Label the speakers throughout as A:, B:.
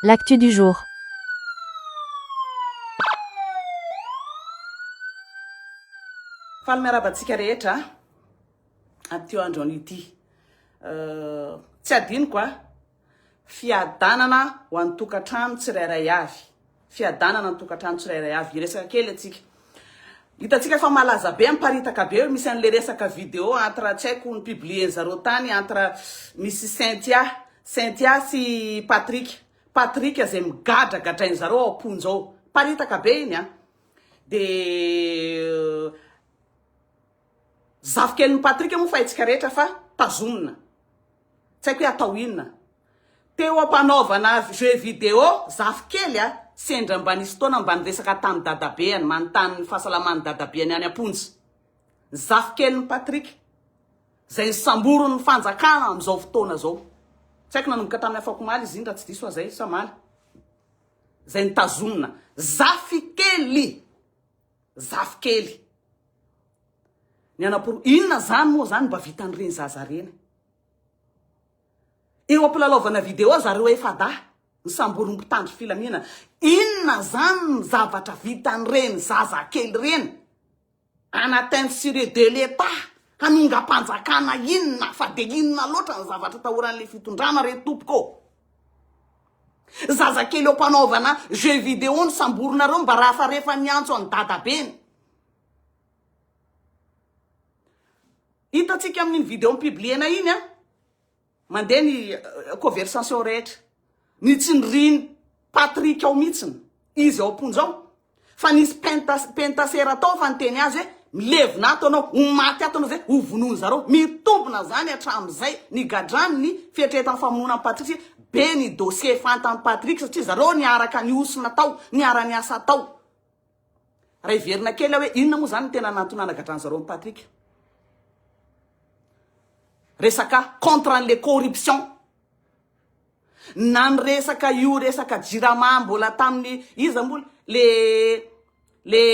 A: L'actu du jour.
B: Faly miarahaba antsika rehetra amin'ity androany ity. Tsy adinoko a, fiadanana ho an'ny tokantrano tsirairay avy. fiadanana ny tokantrano tsirairay avy. Hiresaka kely antsika. Hitantsika fa malaza be, miparitaka be hoe misy an'ilay resaka video entre tsy haiko ni-publier-ny zareo tany entre Miss Cynthia, Cynthia sy Patrick. Patrick izay migadragadrain'i zareo ao am-ponja ao. Miparitaka be iny an. Dia. Zafikeliny Patrick moa fa haintsika rehetra fa tazomina. Tsy haiko hoe atao inona. Teo ampanaovana jeux vidéo zafikely a! Sendra mba nisy fotoana mba niresaka tamin'ny dadabeany, manontany ny fahasalaman'ny dadabeany any am-ponja. Zafikeliny Patrick, izay nosamborin'ny fanjakana amin'izao fotoana izao. Tsy haiko nanomboka tamin'ny afakomaly izy iny raha tsy diso aho izay sa maly. Izay notazomina. Zafikely! Zafikely. Ny hanaporofa. Inona izany moa izany mba vitan'ireny zaza ireny? Eo ampilalaovana video zareo FADA, ny samborin'ny mpitandro filaminana. Inona izany ny zavatra vitan'ireny zaza kely ireny? En atteinte sur eux de l'Etat, hanongam-panjakana inona fa dia inona loatra ny zavatra atahoran'ilay fitondrana re tompoko ô? Zazakely eo mpanaovana jeux vidéo no samborinareo mba rafarefa miantso an'i dadabeny. Hitantsika amin'iny vidéo mi-publier-na iny an. Mandeha ny euh, conversation rehetra. Ny tsindrin Patrick ao mihitsiny. Izy ao am-ponja ao. Fa nisy penta pentasera tao fa niteny azy hoe milevina ato anao, ho maty ato anao zay ho vonoiny zareo. Mitombina zany hatramzay ny gadrany ny fietretan famonoana an'i Patrick satria be ny dossier fantan'i Patrick satria zareo niaraka nihosona tao, niara niasa tao. Raha hiverina kely aho hoe inona moa zany ny tena nahatonana gadrany zareo an'i Patrick. Resaka contre an'le corruption. Na ny resaka io resaka jirama mbola tamin'ny iza moa le le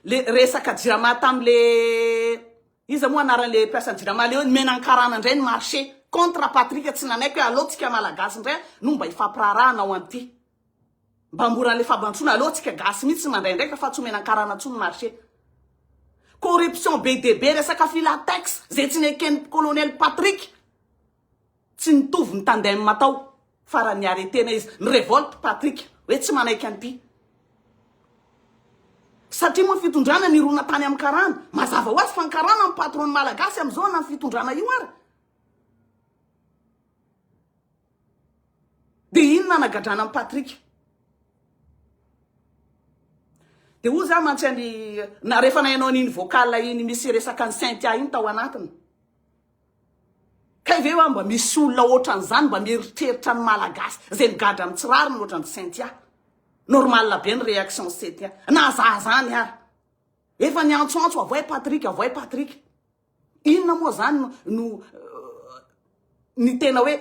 B: le resaka jirama tamin'le iza moa anaran'le mpiasan'ny jirama le hoe ny menankarana indray ny marché contre Patrick tsy nanaiky hoe aleo tsika malagasy indray no mba hifampiraharahana ao an'ity Mba mora le fabantsona aleo tsika gasy mitsy tsy mandray andraikitra fa tsy omena karana tsony marche. Corruption be de be resaka filatex ze tsy neken colonel Patrick tsy nitovy ny tandem atao farany ny aretena izy ny revolte Patrick hoe tsy manaiky anty satria moa fitondrana nirona tany am karana mazava ho azy fa ny karana ny patron ny malagasy amizao na ny fitondrana io ary Dia iny nanagadrana an'i Patrick. Dia hoy za mantsy an'i na rehefa nainao an'iny vocal iny misy resaka an'i Cynthia iny tao anatiny. Kay ve wa mba misy olona ohatran'izany mba mieritreritra ny malagasy izay migadra amin'ny tsy rariny ohatran'i Cynthia. Normal be ny réaction Cynthia. Na za zany ary. Efa niantsoantso avoay Patrick, avoay Patrick. Inona moa zany no ny tena hoe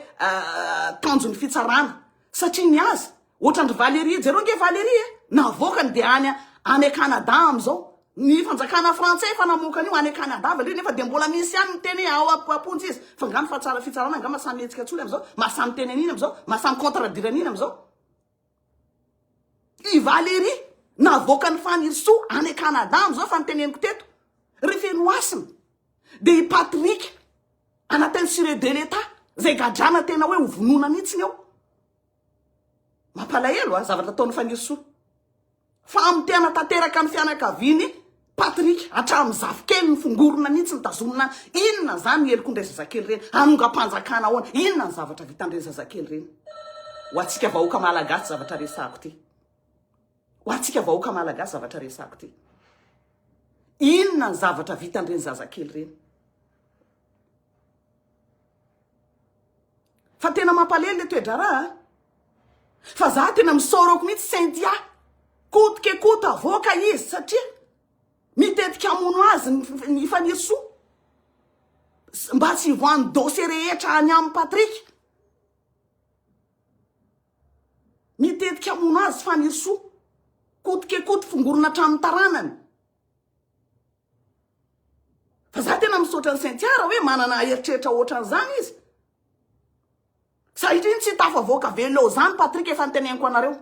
B: tanjon'ny fitsarana satria ny azy ohatran'ny Valérie jereo nge Valérie eh, navoakany dia any any Canada amin'izao ny fanjakana frantsay efa namoaka an'io any Canada Valérie nefa dia mbola misy ihany miteny hoe ao am-ponja izy fa nga ny fatsara fitsarana nga maha samy hetsika an-tsory amin'izao maha samy teny an'iny amin'izao maha samy contre-dire an'iny amin'izao I Valérie navoakan'i Fanirisoa any Canada amin'izao fa ny teneniko teto ry Fenohasina dia i Patrick anatin'ny sire de l'Etat izay gadrana tena hoe ho vonoina mihitsy ny ao. Mampalahelo a, zavatra ataon'i Fanirisoa. Fa amin'ny tena tanteraka ny fianakaviany Patrick hatramin'ny zafikeliny fongorona mihitsy nitazomina inona zany helokon'ireny zazakely ireny hanongam-panjakana ahoana inona ny zavatra vitan'ireny zazakely ireny ho antsika vahoaka malagasy zavatra resako ty ho antsika vahoaka malagasy zavatra resako ty inona ny zavatra vitan'ireny zazakely ireny Fa tena mampalely le toe-draharaha a. Fa za tena misaorako mihitsy Cynthia, coûte que coûte avoaka izy satria mitetika hamono azy ny i Fanirisoa mba tsy hivoahan'ny dossier rehetra any aminy Patrick. Mitetika hamono azy Fanirisoa, coûte que coûte fongorona hatramin'ny taranany. Fa za tena misaotra an'i Cynthia raha hoe manana eritreritra ohatran'izany izy. Satria tsy tafavoaka velona ao izany Patrick efa niteneniko anareo.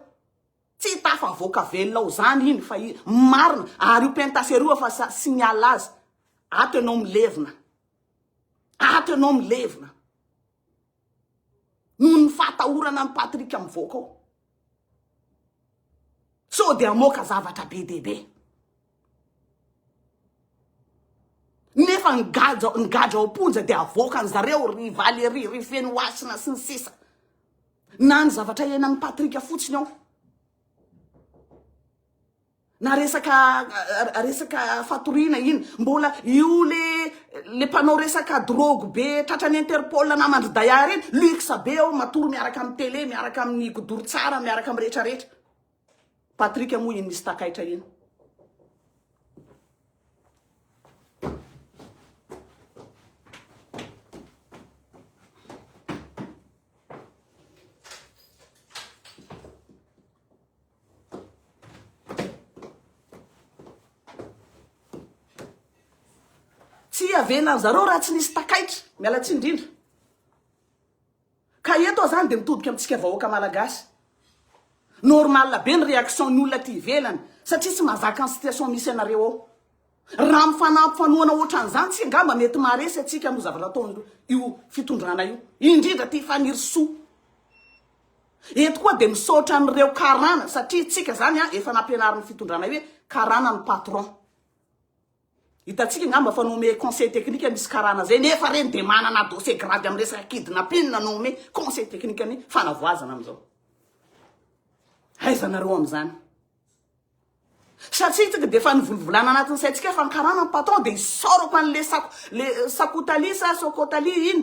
B: Tsy tafavoaka velona ao izany iny fa marina ary io pentasera io efa signal azy. Ato ianao milevina. Ato ianao milevina. noho ny fahatahorana an'i Patrick mivoaka ao. Sao dia hamoaka zavatra be dia be. Nefa ny gadra ny gadra ao am-ponja dia havoaka an'i zareo ry Valérie, ry Fenohasina sy ny sisa. Na ny zavatra iainan'i Patrick fotsiny ao. Na resaka resaka fatoriana iny mbola io le le mpanao resaka drogue be tratra ny interpol namandry daya reny luxe be ao matory miaraka amin'ny télé miaraka amin'ny godoro tsara miaraka amin'ny rehetra rehetra Patrick moa iny misy takaitra iny Tsy hiavena an zareo raha tsy nisy takaiky. Miala tsiny indrindra. Ka eto aho zany dia mitodika amintsika vahoaka malagasy. Normal be ny réaction ny olona aty ivelany satria tsy mazaka ny situation misy anareo ao. Raha mifanampy fanohana ohatran'izany tsy angamba mety maharesy antsika amin'io zavatra ataon'io io fitondrana io, indrindra ty Fanirisoa. Eto koa dia misaotra an'ireo karana satria tsika zany a efa nampianarin'ny fitondrana hoe karana no patron. Hitantsika angamba fa nomer conseil technique misy karana zay nefa reny dia manana dossier grave amin'ny resaka kidnapping na nomer conseil technique ny fanavoazana amin'izao. Aiza nareo amin'izany? Satria tsika dia efa nivolivolana anatin'ny saintsika fa ny karana ny patron dia isaorako an'le sako le sakotali sa sokotali iny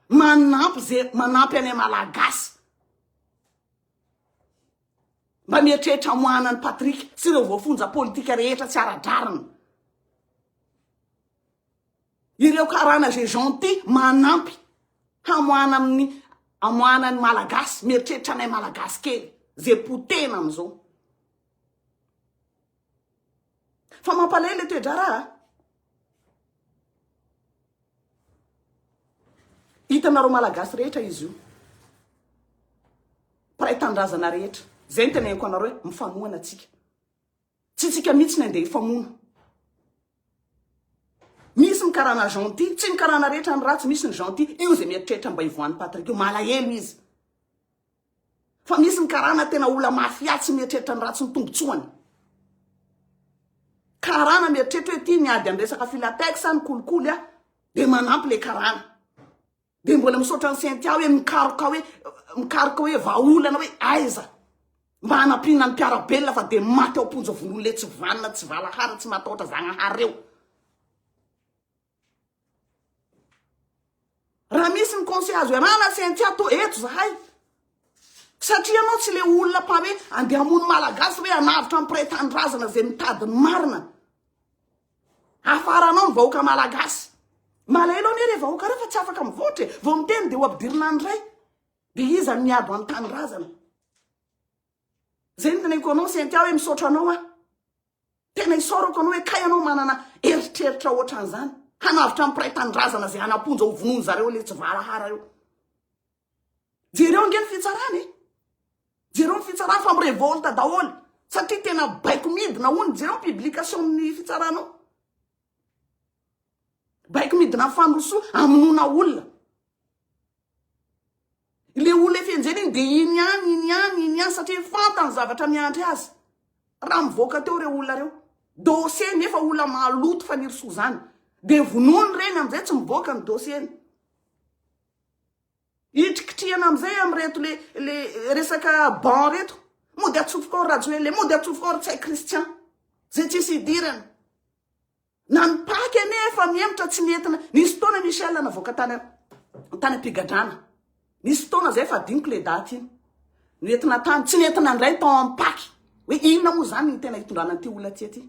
B: manampy ze manampy anay malagasy mba mieritreritra amoahana an'i Patrick sy ireo voafonja politika rehetra tsy ara-drariny Ireo karana zay gentil manampy hamoahana amin'ny amoahana ny malagasy mieritreritra anay malagasy kely zay potehina amin'izao. Fa mampalay le toe-draharaha. Hitanareo malagasy rehetra izy io. Mpiray tanindrazana rehetra. Zay ny teneniko anareo hoe mifanohana atsika. Tsy tsika mitsy ny andeha hifamono. Misy ny karana gentil, tsy ny karana rehetra ny ratsy, misy ny gentil, io zay mieritreritra mba hivoahan'i Patrick io, malahelo izy. Fa misy ny karana tena ola mafia tsy mieritreritra ny ratsy ny tombotsoany. Karana mieritreritra hoe ity miady am resaka filatex a, ny kolikoly a, de manampy le karana. Dia mbola misaotra an'i Cynthia hoe mikaroka hoe mikaroka hoe vahaolana hoe aiza mba hanampiana ny mpiara-belona fa dia maty ao am-ponja von'olona tsy vanona, tsy valahara, tsy matahotra Zagnahary ireo. Raha misy ny conseil azo iarahana Cynthia to eto zahay. Satria ianao tsy le olona mpa hoe andeha hamono malagasy hoe hanavotra ny mpiray tanindrazana izay mitady ny marina. Afaranao ny vahoaka malagasy. Malahelo anie re vahoaka re fa tsy afaka mivoatra e. Vao miteny dia ho ampidirina any ray. Dia iza no miabo any tanindrazana? Zay ny teneniko anao Cynthia hoe misaotra anao aho. Tena isaorako anao hoe kay anao manana eritreritra ohatran'izany. Hanavotra ny mpiray tanindrazana zay hanaponja ho vonoiny zareo le tsy valahara eo. Jereo nge ny fitsarana e. Jereo ny fitsarana fa mirevolte daholo satria tena baiko midina hono jereo publication ny fitsarana ao. Baiko midina famosoa amonona olona. Ilay olona efa enjehina iny dia iny ihany, iny ihany, iny ihany satria fantany zavatra miandry azy. Raha mivoaka teo ireo olona ireo. Dossier nefa olona maloto fanirisoa izany. Dia vonoiny ireny amin'izay tsy mivoaka ny dossier-ny. Hitrikitrihana amin'izay amin'ireto le le resaka ban reto. Mody atsofoka ao Rajoelina, mody atsofoka ao Rtsay Christian. Zay tsisy hidirana. Na ny paky anie efa mihemotra tsy mietina. Nisy fotoana Michel navoaka tany tany am-pigadrana. Nisy fotoana zay fa adinoko le daty iny. Nentina tany, tsy nentina indray tao amin'ny paky. Hoe inona moa izany ny tena hitondrana an'ity olona aty aty?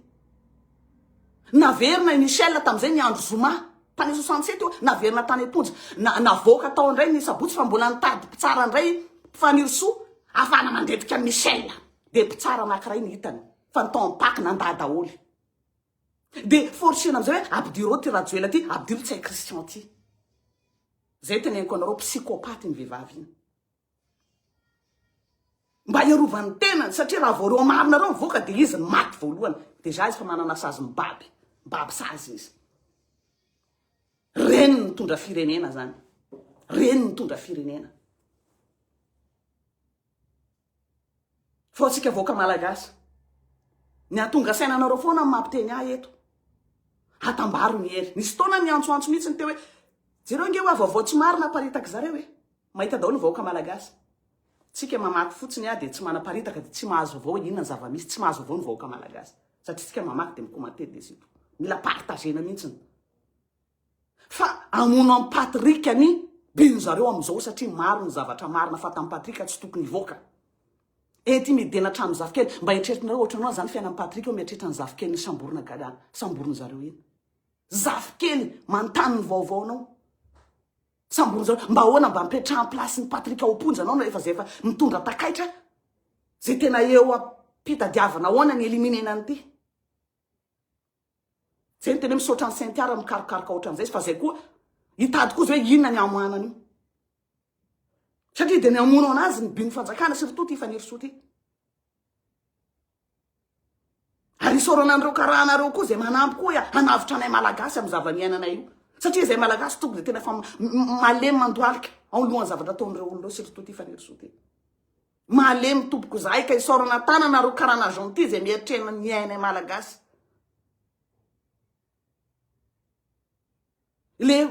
B: Naverina i Michel tamin'izay ny andro zoma. Tany 67 io, naverina tany am-ponja. Na, navoaka tao indray ny sabotsy fa mbola nitady mpitsara indray Fanirisoa afahana mandetika an'i Michel. Dia mpitsara anankiray ny hitany. Fa ny tao amin'ny paky nandà daholo. Dia forcena amin'izay hoe ampidiro ao ty Rajoela ty, ampidiro Ntsay Christian ty. Izay teneniko anareo, psychopathe iny vehivavy iny. Mba hiarovany tenany satria raha vao reo marina reo mivoaka dia izy no maty voalohany. Déjà izy fa manana sazy mibaby, mibaby sazy izy. Reny mitondra firenena zany. Reny mitondra firenena. Fa tsika vahoaka malagasy. Ny atonga saina anareo foana amin'ny mampiteny ahy eto. Hatambaro ny hery. Nisy fotoana niantsoantso mihitsy ny teo hoe jereo nge hoe vaovao tsy marina aparitak'izareo e. Mahita daholo ny vahoaka malagasy. Tsika mamaky fotsiny ah dia tsy manaparitaka dia tsy mahazo vaovao hoe inona ny zavamisy, tsy mahazo vaovao ny vahoaka malagasy. Satria tsika mamaky dia micommente dia c'est tout. Mila partagena mintsiny. Fa amono am Patrick ani bino zareo amizao satria maro ny zavatra marina fa tam Patrick tsy tokony hivoaka. Ety midena hatramin'ny zafikely. Mba eritreritrinareo ohatranao anzany fiainan'i Patrick eo mieritreritra ny zafikeliny samborina gada samboriny zareo iny. Zafikely manontany ny vaovaonao. Sambory zao mba ahoana mba ampetraha place ny Patrick ao am-ponja anao rehefa zay fa mitondra takaitra zay tena eo am-pitadiavana ahoana ny eliminer-na an'ity. Zay ny tena hoe misaotra an'i Cynthia raha mikarokaroka ohatran'izay izy fa zay koa hitady koa zay hoe inona ny hamoahana an'io. Satria dia ny hamono anazy ny bin'ny fanjakana sy ry Toto i Fanirisoa ity. Ary isaorana an'ireo karahanareo koa izay manampy koa hoe hanavotra anay malagasy amin'ny zava-niainanay io. Satria izay malagasy toko dia tena efa malemy mandohalika ao ny lohan'ny zavatra ataon'ireo olon'ireo surtout ity fanirisoa ity. Malemy tompoko izahay ka isaorana tanana ireo karana gentil izay mieritrerina ny ainay malagasy. le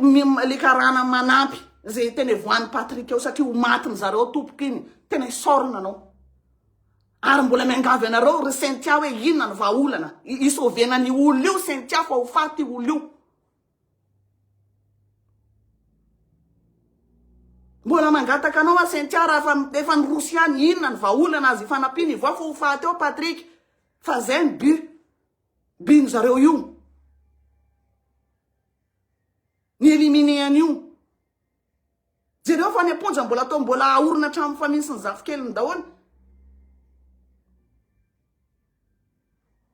B: le karana manampy zay tena voan'i Patrick eo satria ho maty ny zareo tompoko iny tena isaorana anao ary mbola miangavy anareo ry Cynthia hoe inona ny vahaolana isovena ny olo io Cynthia fa ho faty olo io mbola mangataka anao a Cynthia raha fa efa nirosy ihany inona ny vahaolana azy ifanampiana ivoa fa ho faty eo Patrick fa zay ny but Bin zareo io. Ny éliminé an'io. Jereo fa any am-ponja mbola atao mbola ahorona hatramin'ny famille sy ny zafikeliny daholo.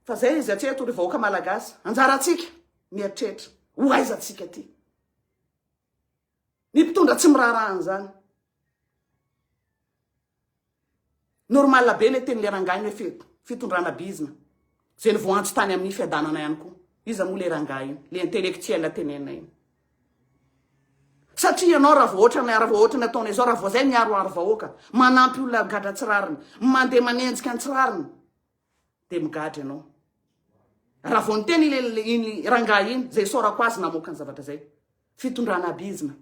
B: Fa zay izy hatreto ry vahoaka malagasy. Anjarantsika mieritreritra. Ho aiza antsika aty? Ny mpitondra tsy miraharaha an'izany. Normal be le tenin'le rangahy ny hoe fitondrana bizna. Ze ny voanjo tany amin'ny fiadanana ihany koa. Iza moa le rangahy iny, le intellectuel tenenina iny. Satria ianao raha vao ohatran'ny raha vao ohatran'ny ataonao izao raha vao izay miaroaro vahoaka, manampy olona gadra tsy rariny, mandeha manenjika ny tsy rariny. dia migadra ianao. Raha vao niteny iny rangahy iny, izay isaorako azy namoaka ny zavatra izay. Fitondrana abizina.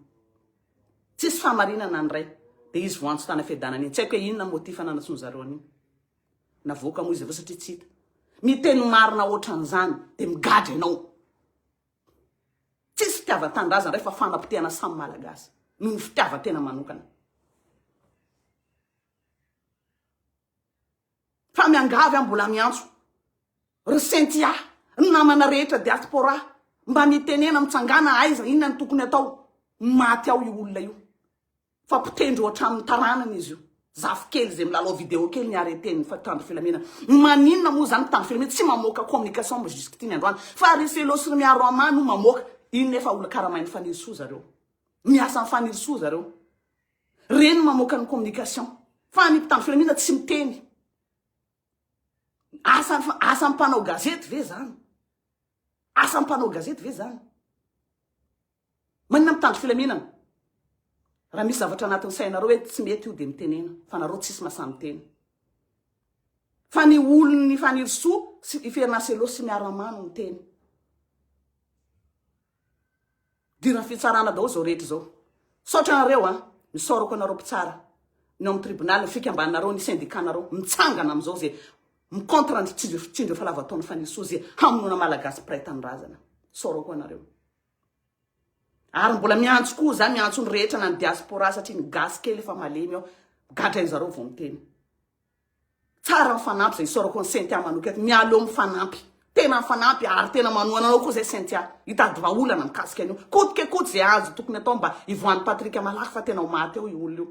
B: Tsisy fahamarinana ny ray. Dia izy voantso tany fiadanana iny. Tsy haiko hoe inona ny motif nanantsoiny zareo an'iny. Navoaka moa izy avy eo satria tsy hita. Miteny marina ohatran'izany dia migadra ianao. Tsisy fitiavan-tanindrazana ray fa fanapotehana samy malagasy noho ny fitiavan-tena manokana. Fa miangavy aho mbola miantso ry Cynthia, ny namana rehetra diaspora mba mitenena mitsangana aiza inona ny tokony atao. Maty ao io olona io fa potendry ho hatramin'ny taranany izy io. Zafikely izay milalao vidéo kely ny arrêté ny mpitandro filaminana. Maninona moa izany mpitandro filaminana tsy mamoaka communication mba jusqu'ity ny androany fa ry Felo sy ry Miaro Amah no mamoaka. Inona efa olona karamain'i Fanirisoa zareo. Miasa amin'i Fanirisoa zareo. Reny no mamoaka ny communication. Fa ny mpitandro filaminana tsy miteny. Asa asa mpanao gazety ve zany? Asa mpanao gazety ve zany? Manina mpitandro filaminana? Raha misy zavatra anatin'ny sainareo hoe tsy mety io dia mitenena fa nareo tsisy mahasaha miteny. Fa ny olon'ny Fanirisoa sy i Fernaselo sy miaramano miteny. Idiran'ny fitsarana daholo izao rehetra izao. Misaotra anareo an! Misaorako anareo mpitsara ny ao amin'ny tribunal, ny fikambananareo, ny syndicat-nareo. Mitsangana amin'izao izay mi-contre ny fitsindrofitsindro efa lava taona fanesoa izay hamonoana Malagasy mpiray tanindrazana. Misaorako anareo. Ary mbola miantso koa za, miantso ny rehetra na ny diaspora satria ny gasy kely efa malemy ao, migadra ain-zareo vao miteny. Tsara mifanampy zay isaorako an'i Cynthia manokana, mialeo mifanampy, tena mifanampy ary tena manohana anao koa zay Cynthia, hitady vahaolana mikasika an'io, koto ke koto zay azo tokony atao mba hivoahan'i Patrick malaky fa tena ho maty ao io olona io,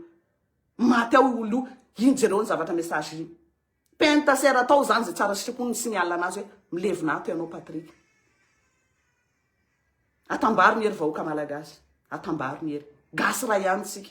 B: maty ao io olona io, iny jereo ny zavatra message iny, penta sera atao zany zay tsara sitrapo ny signal anazy hoe milevina ato ianao Patrick, atambaro ny hery vahoaka malagasy, atambaro ny hery, gasy ray ihany isika.